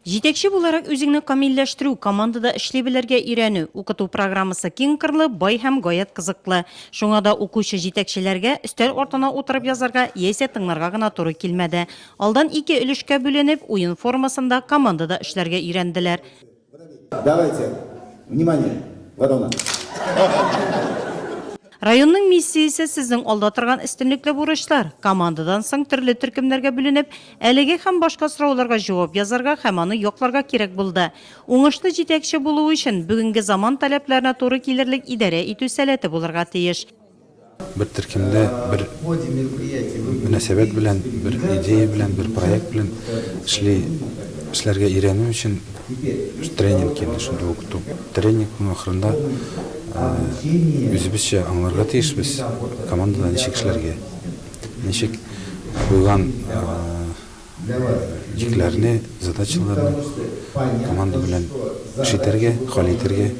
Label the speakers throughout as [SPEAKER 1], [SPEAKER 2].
[SPEAKER 1] Җитәкче
[SPEAKER 2] буларак үзеңне камилләштерү, командада эшли белергә өйрәнү. Укыту программасы киңкырлы, бай һәм гаять кызыклы. Шуңа да укучы җитәкчеләргә өстәл артына утырып язарга яисә тыңларга гына туры килмәде. Алдан ике өлешкә бүленеп, уен формасында, командада эшләргә өйрәнделәр. Давайте!
[SPEAKER 3] Внимание! Вот она!
[SPEAKER 2] Районның миссиясе сезнең алда торган өстенлекле бурычлар. Командадан соң төрле төркемнәргә бүленеп, әлеге һәм башка сорауларга җавап язарга һәм аны якларга кирәк булды. Уңышлы җитәкче булу өчен, бүгенге заман таләпләренә туры килерлек идарә итү сәләте булырга тиеш. Бер
[SPEAKER 4] төркемдә бер мөнәсәбәт белән, бер идея белән, бер проект белән эшли, эшләргә өйрәнү өчен, Без тренинг килде шундый ук туп. Тренингның ахырында үзебезчә аңларга тиешбез, командада ничек эшләргә, ничек куйган җикләрне, задачаларны команда белән эш итәргә, хәл итәргә.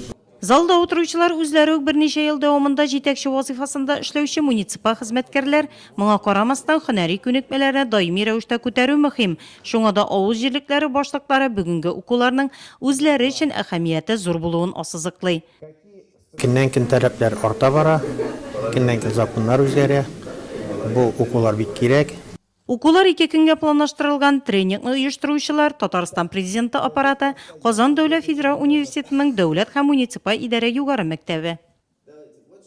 [SPEAKER 4] Залда утыручылар
[SPEAKER 2] үзләре үк берничә ел дәвамында җитәкче вазыйфасында эшләүче муниципаль хезмәткәрләр. Моңа карамастан, һөнәри күнекмәләрне даими рәвештә күтәрү мөһим. Шуңа да авыл җирлекләре башлыклары бүгенге укуларның үзләре өчен әһәмияте зур булуын ассызыклый. Көннән-көн
[SPEAKER 5] таләпләр арта бара, көннән-көн законнар үзгәрә. Бу укулар бик кирәк. Укулар ике
[SPEAKER 2] көнгә планлаштырылган, тренингны оештыручылар, Татарстан Президенты Аппараты, Казан дәүләт федераль университетының дәүләт һәм муниципаль идарә югары мәктәбе.